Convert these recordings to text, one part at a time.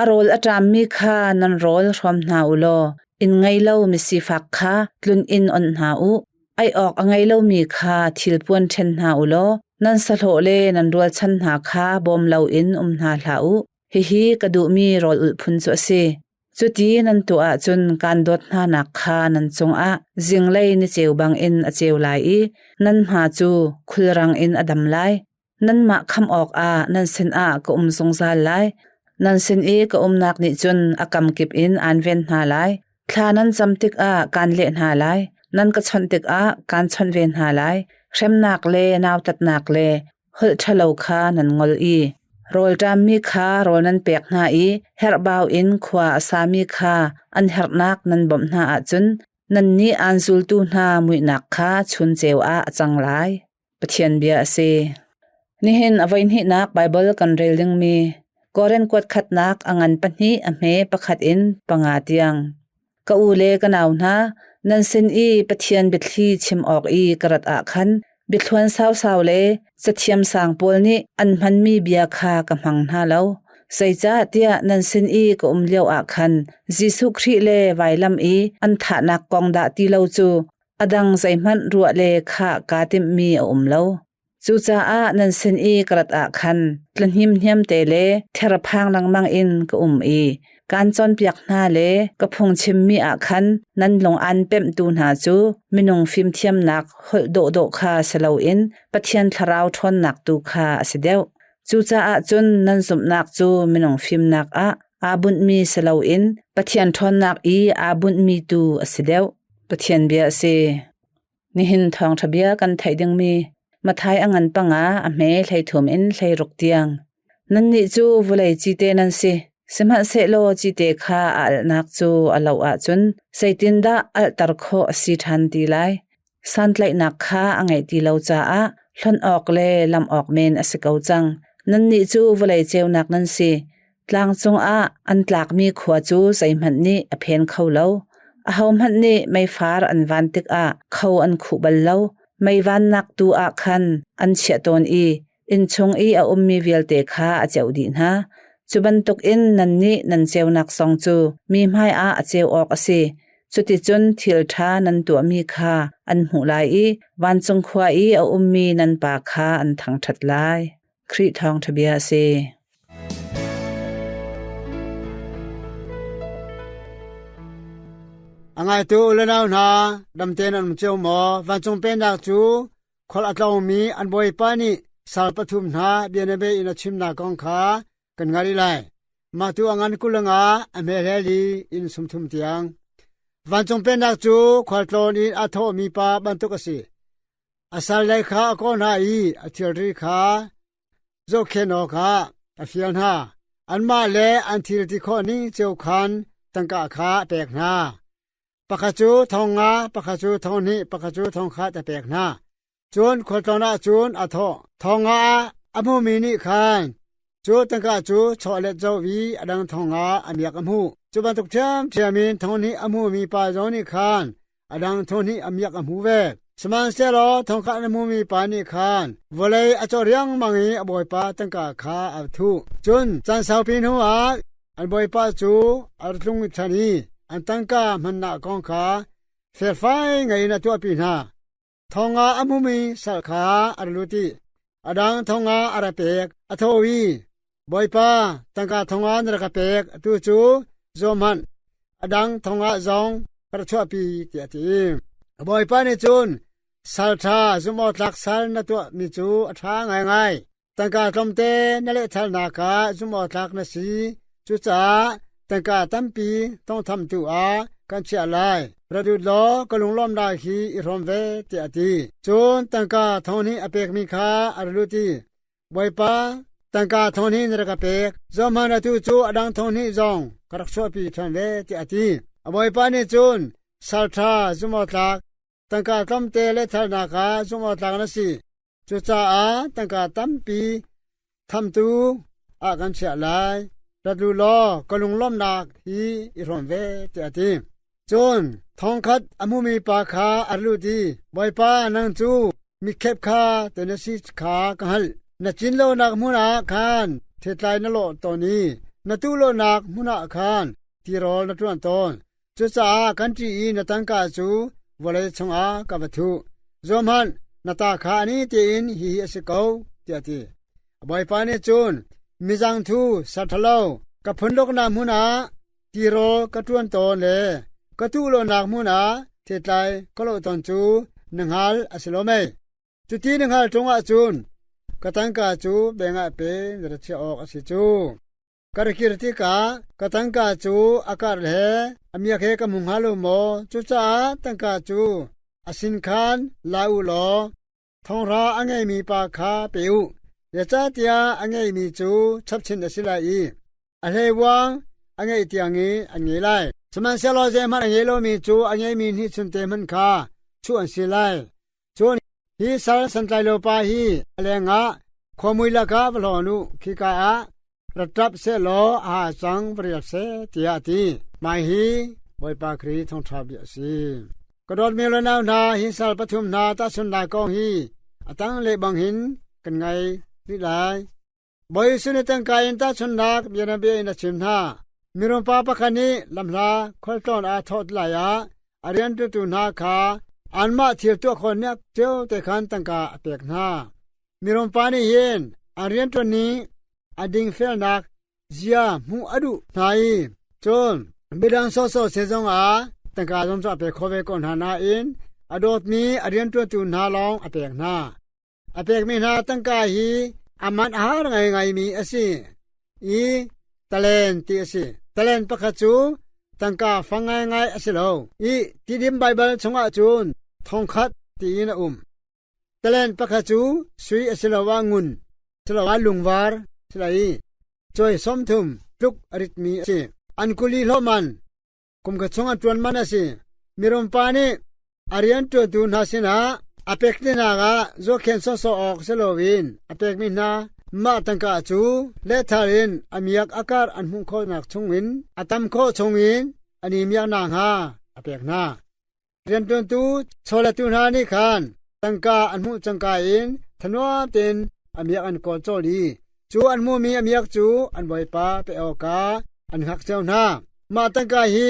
A rawl a ṭammi kha nan rawl hrawm hna u law inn ngei lo misifak kha tlun in onh hna u. Ei awk a ngei lomi kha thilpuan ṭhen hna u law nan sahlawh le nan rualchan hna kha bawm loin um hna hlah u. Hihi ka duhmi rawlulh phun cu a si. Cuti nan tuah ahcun kaan dawt hnanak kha nan cungah zinglei ni ceu bangin a ceu lai i nan hma cu khulrang in a dam lai. Nanmah kham awkah nan sinah ka um zungzal lai. Nan sin i ka umnak nih cun a kamkip in aan ven hna lai. Thla nan cam tikah kaan leh hna lai. Nan ka chawnh tikah kaan chawnh ve hna lai. Hremnak le nautatnak le holh ṭhalo kha nan ngol i rawlṭammi kha rawl nan pek hna i herhbau in khua a sami kha an herhnak nan bawmh hna ahcun nannih aan zultu hna muihnak kha chun ceu ah a cang lai. Pathian bia a si. Nihin a voihnihnak Baibal kan rel dingmi Korin kuat khatnak a ngan pahnih a hme pakhat in panga tiang. Ka u le ka nau hna, nan sin i Pathian biathli chim awk i ka rat ah khan biathluan sausau le cathiam sang pawl nih an hmanmi bia kha ka hmang hna lo. Zeicah tiah nan sin i ka um lio ah khan Jesuh Khrih le vailam i an thahnak kong dah ti lo cu A dang zeihmanh ruah le khah kaa timhmi a um lo. Cucaah nan sin i ka rat ah khan tlahnemhnem te le therphang lengmang in ka um i kaan cawnpiak hna le ka phungchimmi ah khan nan lung aan pemhtu hna cu minung fimthiamnak holh dawhdawh kha si loin Pathian thlarau ṭhawnnak tu kha a si deuh. Cucaah cun nan zumhnak cu minung fimnak ah aa bunhmi si loin Pathian ṭhawnnak i aa bunhmi tu a si deuh. Pathian bia a si. Nihin thawngṭha bia kan theih dingmi Mathai a ngan pangah a hme hleithum in hleiruk tiang. Nannih cu vulei cite nan si, sihmanhsehlaw cite kha a alhnak cu a lo ahcun zeitindah alhter khawh a si ṭhan ti lai? Santlaihnak kha a ngeih ti lo caah hlonh awk le lamh awk men a si ko cang. Nannih cu vulei ceunak nan si. Tlang cungah an tlakmi khua cu zeihmanh nih a phen kho lo. Ahohmanh nih meifar an van tikah kho an khuh bal lo. Meivannak tu ah khan an chiah tawn i innchung i a ummi vialte kha a ceuh dih hna. Cu bantukin nannih nan ceunak zong cu mi hmaiah a ceu awk a si. Cuticun thil ṭha nan tuahmi kha an hmuh lai i vancung khua i a ummi nan Pa kha an thangṭhat lai. Khrih thawngṭhabia a si. A ngaitu lenau hna, damten an um cio maw? Vancung pennak cu khual a tlawngmi an bawipa nih sal pathum hna bianabei in a chimnak kong kha kan hngalh rih lai. Mah tu a ngan kuleng ah a hmelhel i inn sumthum tiang. Vancung pennak cu khualtlawn in a thawhmi pa bantuk a si. A salle kha a kawl hna i a thilri kha zohkhenh awkah a fial hna. Anmah le an thilti khawh ning cio khan tangka kha a pek hna. Pakhat cu thong nga, pakhat cu thong hnih, pakhat cu thong khat a pek hna. Cun khualtlawn ah cun a thawh, Thong ah a hmumi nih khan cu tangka cu chawlet zoh i a dang thong ah a miak a hmuh. Cu bantuk ṭhiamṭhiam in thong hnih a hmumi pa zong nih khan a dang thon nih a miak a hmu ve. Sihmanhsehlaw thongkah na hmumi pa nih khan vawlei a cawh riangmang i a bawipa tangka kha a thuh. Cun caan saupi hnuah an bawipa cu a ra tlung ṭhan i an tangka mannak kong kha felfai ngei in a tuahpi hna. Thongah a hmumi sal kha a ra lut i a dang thongah a ra pek, a tho i, Bawipa, tangka thongah na rak ka pek, atu cu zuam hmanh, a dang thongah zong ka ra chuahpi, tiah a ti. Bawipa nih cun, Sal ṭha zumhawktlak sal na tuahmi cu a ṭha ngaingai. Tangka tlawmte na lehthalnak ah zumhawtlak na si. Cucaah tangka tampi tawnghthamtu ah kan chiah lai. Ra lut law ka lunglawm lai hi i hrawm ve, tiah a ti. Cun tangka thonghnih a pekmi kha a ra lut i, Bawipa, tangka thonghnih na rak ka pek, zuamhman atu cu a dang thonghnih zong ka rak chuahpi ṭhan ve, tiah a ti. A bawipa nih cun, Sal ṭha zumhawtlak, tangka tlawmte lehthalnak ah zumhawtlak na si. Cucaah tangka tampi thamtu ah kan chiah lai. Rat lu law ka lunglawmhnak hi i hrawm ve, tiah a ti. Cun thongkhat a hmumi pa kha a lut i, Bawipa, nang cu mikhep kha te na si kha ka hngalh. Na cin lonak hmun ah khan thetlai na lawh tawn i na tuh lonak hmun ah khan tirawl na ṭuan tawn. Cucaah kan ṭih i na tangka cu vawlei chungah ka va thuh. Zohhmanh, na ta kha ani tein hihi a si ko, tiah a ti. A bawipa nih cun, Mizangthu ser ṭhalo ka phunduknak hmun ah tirawl ka ṭuan tawn le ka thuhlonak hmun ah thetlai ka lawh tawn cu na hngal a si lo mei? Cuti na hngal ṭungah cun ka tangka cu bengah pe na ra chiah awk a si cu. Ka ra kir tikah ka tangka cu a karh le a miak he ka hmu hnga lo maw? Cucaah tangka cu a sin khan la u law thonghra a ngeimi pa kha pe u, zeicahtiah a ngeimi cu chapchin a si lai i a hleivuang a ngeih tiang i an ngei lai. Sihmanhsehlaw zeihmanh a ngei lomi cu a ngeimi nih chun te hmanh kha chuh an si lai. Cun hi sal santlailo-pa hi a lengah khuamui lakah va hlawn u; khika ah ra ṭap seh law a ha cang va rial seh, tiah a ti. Mah hi Bawipa Khrih thawngṭha bia a si. Ka dawt mi le nau hna, hi sal pathum hna tahchunhnak kong hi a tanglei bangin kan ngaih rih lai. Bawisu nih tangka in tahchunhnak bianabia in a chim hna. Mirum pakhat nih lamhla khualtlawn ah thawh lai ah a rianṭutu hna kha anmah thil tuah khawhnak cio te khan tangka a pek hna. Mirum pa nih hin an rianṭuan i a dingfelnak zia hmuh a duh hna i cun midang sawhsawh seh zongah tangka zuam cu a pek khawh ve ko hna nain a dawtmi a rianṭuantu hna lawng a pek hna. A pekmi hna tangka hi a manh a har ngaingaimi a si i talen ti a si. Talen pakhat cu tangka fang ngaingai a si lo i Tidim Baibal chungah cun thongkhat tiin a um. Talen pakhat cu sui a si loah ngun, siloah lungvar, si lo i cawi sawmthum tluk a ritmi a si. An kuli hlawman, Kum ka chung a ṭuan man a si. Mirum pa nih a rianṭuantu hna sinah a pekdehnak ah zuakhen sawhsawh awk si loin a pekmi hna mah tangka cu lethal in a miak a karh an hmuh khawhnak chungin a tam khawh chungin a ni miaknak hnga a pek hna. Rianṭuantu chawlettu hna nih khan tangka an hmuh cangka in thanuam tein a miak an kawl cawl i cu an hmuhmi a miak cu an bawipa pek awkah an ngakchio hna. Mah tangka hi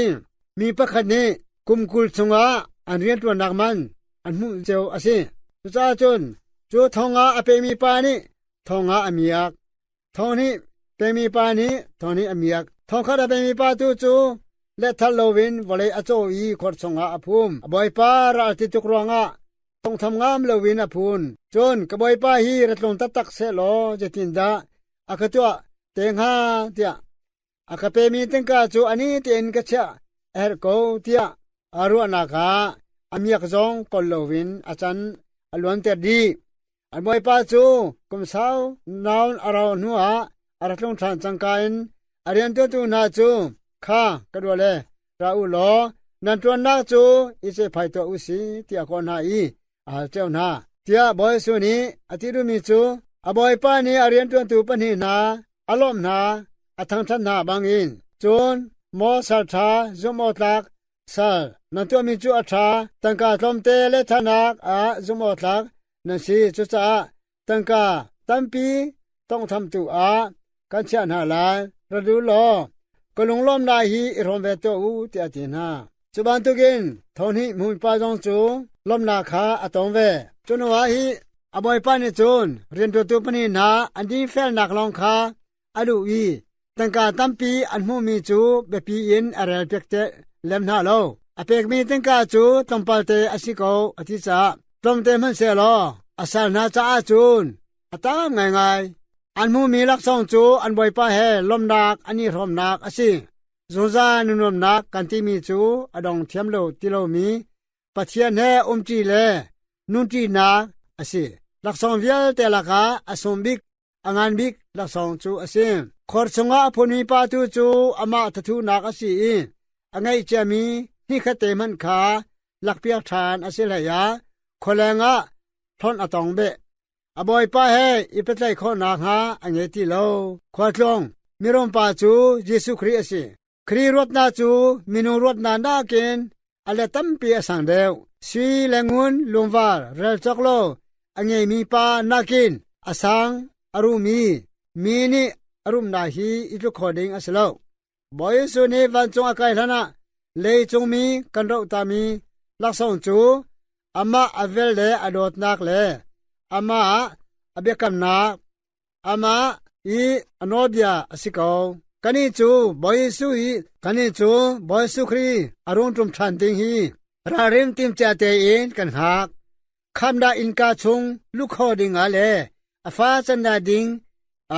mi pakhat nih kum kul chungah an rianṭuannak man an hmuh cio a si. Cucaah cun cu thong ah a pehmi pa nih thong ah a miak. Thawng hnih pemipa nih thawng hnih a miak. Thongkhat a pemipa tu cu letthal loin vawlei a caw i khor chungah a phum. A bawipa ral ti tuk ruangah thawngtham ngam loin a phun. Cun ka bawipa hi ra tlung taktak seh law zeitindah a ka tuah te hnga tiah A ka pemi tangka cu ani tein ka chiah a herh ko tiah a ruahnak ah a miak zong kol loin a can a luanter dih. A bawipa cu kum sau naun a rauh hnuah a ra tlung ṭhan cangka in a riantuantu hna cu, “Kha ka ruah le, Ra u law nan ṭuannak cu i cehphai tuah u si, tiah a kawh hna i a hal cio hna. Tiah Bawi Jesuh nih a ti duhmi cu a Bawipa nih a rianṭuantu pahnih hna a lawmh hna, a thangṭhat hna bangin, cun maw sal ṭha zumhawtlak sal, nan tuahmi cu a ṭha, tangka tlawmte le thahnak ah zumhawtlak nan si. Cucaah Tangka tampi tawnghthamtu ah kan chiah hna lai. Ra dul law ka lunglawmnak hi i hrawm ve tuah u, tiah a ti hna. Cu bantukin thonhnih hmuipa zong cu lawmnak kha a tong ve. Cu hnuah hi a bawipa nih cun rian ṭuantu pahnih hna an dingfelnak lawng kha a luh i tangka tampi an hmuhmi cu biapi in a relpiak teh lem hna lo. A pekmi tangka cu tlawmpalte a si ko, a ti caah tlawmte hmanhsehlaw a sal hna caah cun a tam ngaingai. An hmuhmi laksawng cu an bawipa he lawmnak an i hrawmnak a si. Zungzal nunuamnak kan timi cu a dong thiam lo ti lomi Pathian he umṭi le nunṭinak a si. Laksawng vialte lakah a sung bik A ngan bik laksawng cu a si. Khor chungah a phunmi pa tu cu amah thathunak a si i a ngaihciami hnikhatte hmanh kha lakpiak ṭhan a si hleiah khualeng ah hlonh a tong beh. A bawipa he i pehtlaih khawh nakhnga a nge ti lo. Khualtlung mirum pa cu Jesuh Khrih a si. Kri ruatnak cu minu ruatnak nakin a le tampi a sang deuh. Sui le ngun lungvar rel cawk law a ngeimi pa nakin a sang a rumi mi nih a rumnak hi i tluk kho ding a si lo. Bawi Jesuh nih vancung a kai hlanah leicung mi kan rohtami laksawng cu amah a vel le a dawtnak le amah ah a biakamnak, Amah hi a nawlbia a si ko. Kannih cu Bawi Jesuh i kannih cu Bawi Jesuh Khrih a rung ṭum ṭhan ding hi ralrin timcia tein kan hngak. Khamdah innka chung luh kho dingah le a fa candah ding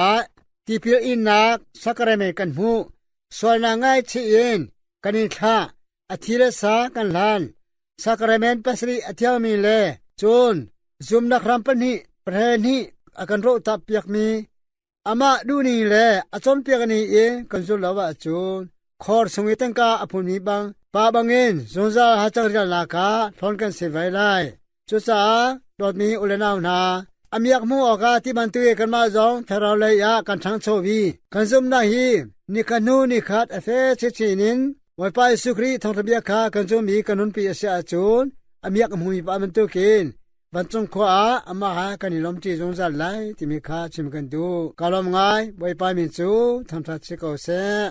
ah tipil innak sakremei kan hmuh. Sualnak ngaihchih in kan in thlah. A thi le sa kan hlan, sacrament pasarih a thiangmi le cun zumnak ram pahnih pahnih a kan rohtak piakmi amah duhni le a cawnpiak ni in kan zulh lo ahcun khor chung i tangka a phunmi bang pa bangin zungzal hacang rialnak ah hlawn kan si vai lai. Cucaah dawtmi ulenau hna, a miak hmuh awkah ti bantukin kanmah zong thlaraulei ah kan ṭhangcho i kan zumhnak hi ni khat hnu ni khat a fe chinchin in Bawipa Jesuh Khrih thawngṭhabia kha kan zumh i kan nunpi a si ahcun a miak a hmumi pa bantukin vancung khua ah amah ha kan i lawmṭi zungzal lai timi kha chim kan duh. Ka lawm ngai, Bawipa min cu thangṭhat si ko seh.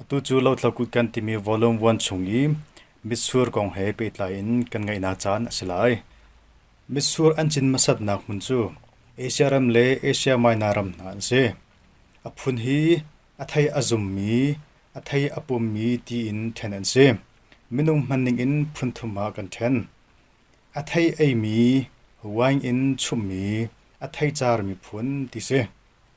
Atu cu Lothlo Kut kan timi volume vuan chung i mitsur kong he pehtlai in kan ngaihnak caan a si lai. Mitsur an cin hmasatnak hmun cu Asia ram le Asia Minor ram hna an si. A phun hi a thei a zummi, a thei a pummi tiin ṭhen an si. Minung hmanning in phun thum ah kan ṭhen. A thei eimi, wine in chumhmi, a thei carmi phun ti si.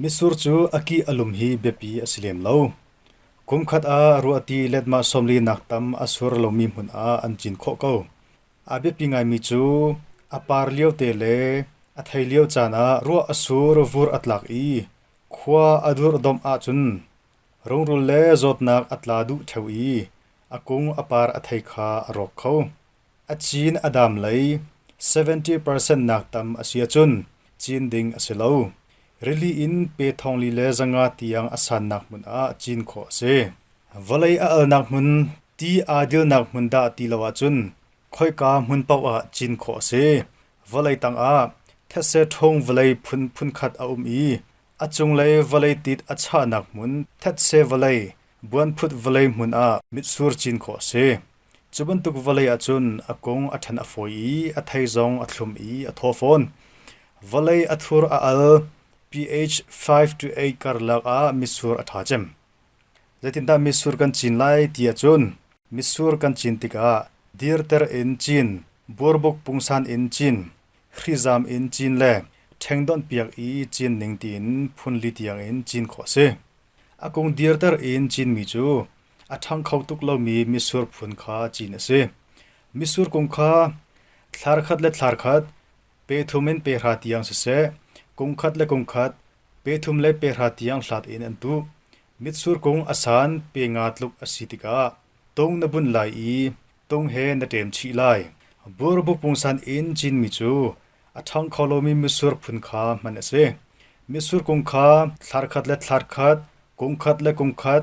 Mitsur cu a kih a lum hi biapi a si lem lo. Kumkhat ah ruahti letmah sawmlinak tam a sur lomi hmun ah an cin khawh ko. A biapi ngaimi cu a par liote le a thei lio caan ah ruah a sur vur a tlak i khua a durhdomh ahcun rungrul le zawtnak a tla duh ṭheo i a kung a par a thei kha a rawk kho. A cin a dam lei seventy percent nak tam a si ahcun cin ding a si lo. Rili in pe thongli le zanga tiang a sannak hmun ah cin khawh a si. Vawlei a alnak hmun ti aa dilnak hmun dah ti lo ahcun khoika hmun paoh ah cin khawh a si. Vawlei tangah thetse ṭhung vawlei phun phunkhat a um i a cunglei vawlei tit a chahnak hmun thetse vawlei, buanphut vawlei hmun ah mitsur cin khawh a si. Cu bantuk vawlei ah cun a kung a ṭhen a fawi i a thei zong a thlum i a thaw fawn. Vawlei a thur a al, pH 5-8 karlak ah mitsur a ṭha cem. Zeitindah mitsur kan cin lai ti ahcun mitsur kan cin tikah dirter in cin, burbuk pungsan in cin, hrizam in cin le ṭhengdawnhpiak i cin ning tiin phunli tiangin cin khawh a si. A kung dirter in cinmi cu a ṭhang kho tuk lomi mitsur phun kha cin a si. Mitsur kung kha thlar khat le thlar khat, pe thum in pe hra tiang siseh, kung khat le kung khat, pe thum le pe hra tiang hlat in an tuh. Mitsur kung a san pe nga tluk a si tikah tung na bunh lai i tung he na ṭem chih lai. Burbu pungsan in cinmi cu a ṭhang kho lomi mitsur phun kha hman a si. Mitsur kung kha thlar khat le thlar khat, kung khat le kung khat,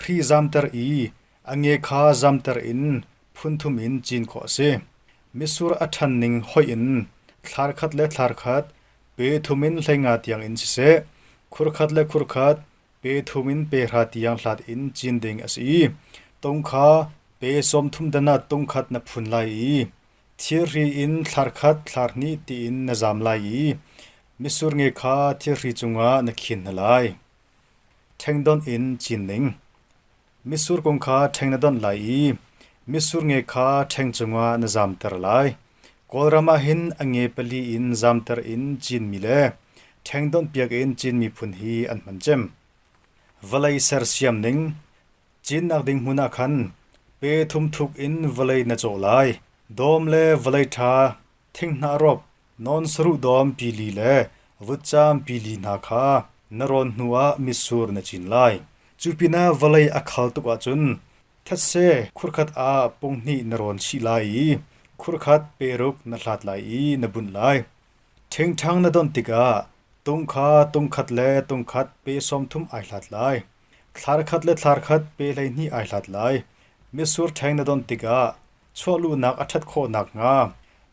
hri zamter i a nge kha zamter in phunthum in cin khawh a si. Mitsur a ṭhan ning hoih in thlar khat le thlar khat pe thum in hleinga tiangin siseh, khur khat le khur khat pe thum in pehra tiang hlat in cin ding a si i tung kha pe sawmthum danat tung khat na phun lai i thirhri in thlar khat thlar hnih tiin na zam lai i mitsur nge kha thirhri cungah na khin hna lai. Ṭhengdonh in cin ning: Mitsur kung kha ṭheng na donh lai i mitsur nge kha ṭheng cungah na zamter lai. Kawlram ah hin a nge pali in zamter in cinmi le ṭhengdonh piak in cinmi phun hi an hman cem. Vawlei sersiam ning: Cinnak ding hmun ah khan pe thum thuk in vawlei na cawh lai. Dawm le vawlei ṭha thinghnah rawp. Non saruhdawm pili le vutcaam pili hna kha na rawn hnuah mitsur na cin lai. Cu pinah vawlei a khal tuk ahcun thetse khurkhat ah punghnih na rawn chih lai i khurkhat peruk na hlat lai i na bunh lai. Ṭhingṭhang na donh tikah tung kha tung-khat le tung-khat pe sawmthum ai hlat lai. Thlar khat le thlar khat pe hleihnih ai hlat lai. Mitsur ṭheng na donh tikah Chuahluhnak a ṭhat khawh nakhnga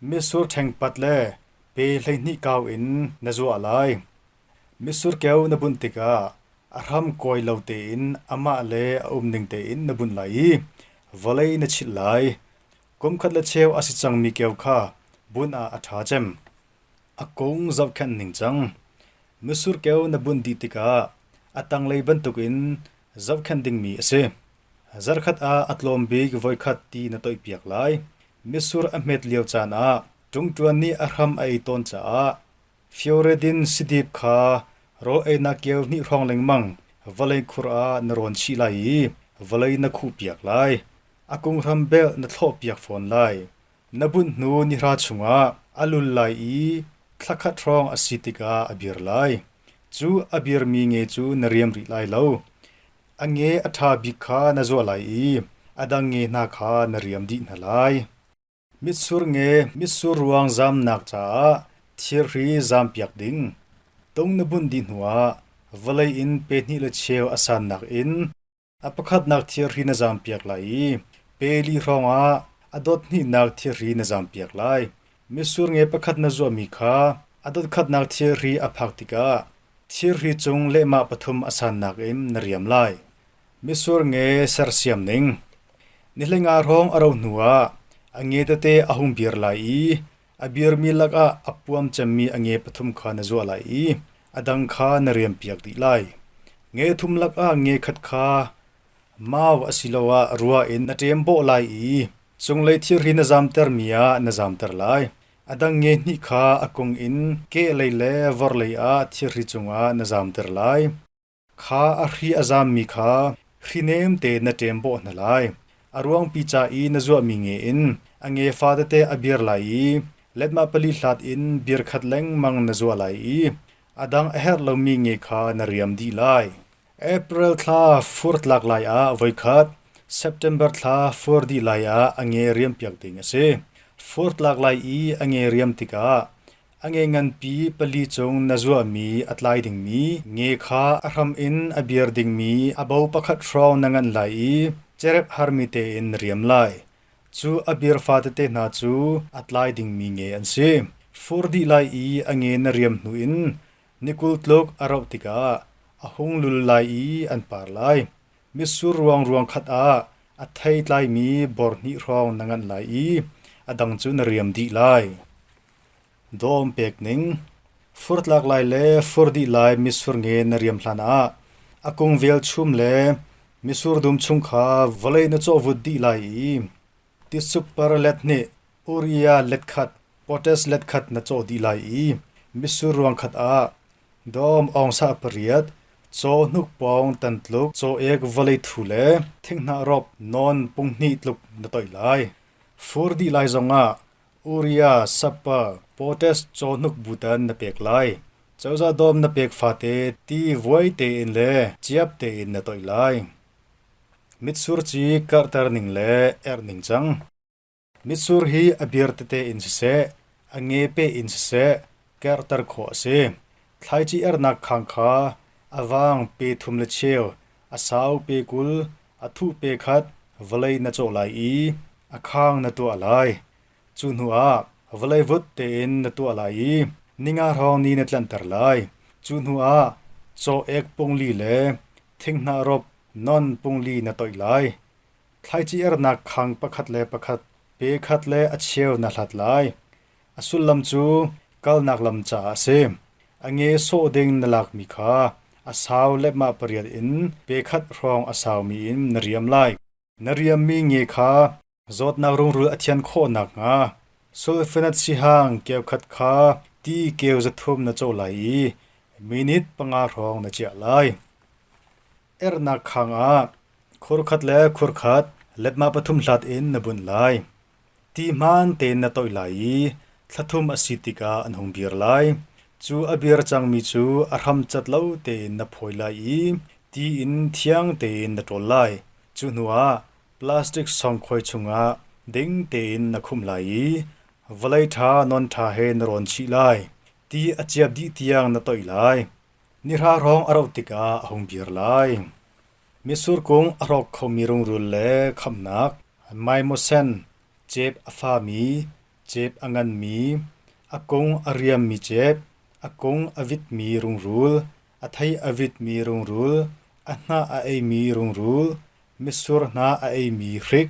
mitsur ṭhengpat le pe hleihnih kau in na zuah lai. Mitsur keu na bunh tikah a hram kuai lo tein amah le a um ning tein na bunh lai i vawlei na chilh lai. Kumkhat le cheu a si cangmi keu kha bunh ah a ṭha cem. A kung zohkhenh ning cang. Mitsur keu na bunh dih tikah a tanglei bantukin zohkhenh dingmi a si. Zarhkhat ah a tlawm bik voikhat ti na toihpiak lai. Mitsur a hmet lio caan ah ṭungṭuan nih a hram a ei tawn caah fioredin sidip kha rawl einak keu hnih hrawng lengmang vawlei khur ah na rawn chih lai i vawlei na khuhpiak lai. A kunghram belh na thlawhpiak fawn lai. Na bunh hnu nihra chungah a lul lai i thla khat hrawng a si tikah a bir lai. Cu a birmi nge cu na riam rih lai lo. A nge a ṭha bik kha na zuah lai i a dang nge hna kha na riam dih hna lai. Mitsur nge mitsur ruang zamnak caah thirhri zampiak ding. Tung na bunh dih hnuah vawlei in pe hnih le cheu a sannak in a pakhatnak thirhri na zampiak lai i pe li hrawngah a dot hnihnak thirhri na zampiak lai. Mitsur nge pakhat na zuahmi kha a dotkhatnak thirhri a phak tikah thirhri cung lehmah pathum a san nakin na riam lai. Mitsur nge sersiam ning: Nihleng ah hrawng a ro hnuah a nge tete a hung bir lai i a birmi lakah a puam cemmi a nge pathum kha na zuah lai i a dang kha na riampiak dih lai. Nge thum lakah nge khat kha mau asiloah rua in na ṭem bawh lai i Cunglei thilri na zamtermi ah na zamter lai. A dang nge-hnih kha a kung in kehlei le vorhlei ah thilri cungah na zamter lai. Kha a hri a zammi kha hrinem tein na ṭem bawh hna lai. A ruangpi ca i na zuahmi nge in a nge fa tete a bir lai i letmah pali hlat in bir khat lengmang na zuah lai i a dang a herh lomi nge kha na riam dih lai. April thla fur tlak lai ah voikhat, September thla fur dih lai ah a nge riampiak ding a si. Fur tlak lai i a nge riam tikah a nge nganpi pali cung na zuahmi a tlai dingmi nge kha a hram in a biar dingmi a bo pakhat hrawng na nganh lai i cerep harmi tein na riam lai. Cu a bir fatete hna cu a tlai dingmi nge an si. Fur dih lai i a nge na riam hnu in Ni kul tluk a rauh tikah a hung lul lai i an par lai. Mitsur ruangruang khat ah a theitlaimi bor hnih hrawng na nganh lai i a dang cu na riam dih lai. Dawm pek ning Fur tlak lai le fur dih lai mitsur nge na riam hlanah a kung velchum le mitsur dum chung kha vawlei na cawhvut dih lai i tisukparlet nih Korea letkhat Potas letkhat na caw dih lai i mitsur ruangkhat ah Dawm Aung Sa pariat, caw hnuk pawng tan tluk caw ek vawlei thu le thinghnah rawp nawn punghnih tluk na toih lai. Fur dih lai zongah Uria sappa Potas caw hnuk butan na pek lai. Cozah dawm na pek fate ti vuai tein le ciap tein na toih lai. Mitsur ci karhter ning le erh ning cang. Mitsur hi a bir tete in siseh, a ngepe in siseh kerhter khawh a si. Thlaici ernak khang kha a vang pe thum le cheu, a sau pe kul, a thuh pe khat vawlei na cawh lai i a khang na tuah lai. Cu hnuah vawlei vut tein na tuah lai i ninga hrawng ni na tlanter lai. Cu hnuah caw ek pung li le thinghnah rop non pung li na toih lai. Thlaici-ernak khang pakhat le pakhat, pe khat le a cheu na hlat lai. A sullam cu kalnak lam caah a si. A nge sawh ding na lakmi kha a sau le mah pariat in pe khat hrawng a saumi in na riam lai. Na riammi nge kha zawtnak rungrul a thian khawh nakhnga sulfanat sihang keukhat kha ti keu zathum na co lai i minit panga hrawng na ciah lai. Ernak khang ah khorkhat le khorkhat lepma pathum hlat in na bunh lai. Ti hmaan tein na toih lai i thlathum a si tikah an hung dir lai. Cu a bir cangmi cu a hram cat lo tein na phawi lai i ti in thiang tein na ṭawl lai. Cu hnuah plastic sawngkhoi chungah ding tein na khumh lai i vawlei ṭha non ṭha he na rawn chih lai. Ti a ciap dih tiang na toih lai. Nihrahrong a roh tikah a hung vir lai. Mitsur kung a hrawk khomi rungrul le khamhnak, maimasen, cep a fami, cep a nganmi, a kung a riammi cep, a kung a vitmi rungrul, a thei a vitmi rungrul, a hnah a eimi rungrul, mitsur hnah a eimi hrik,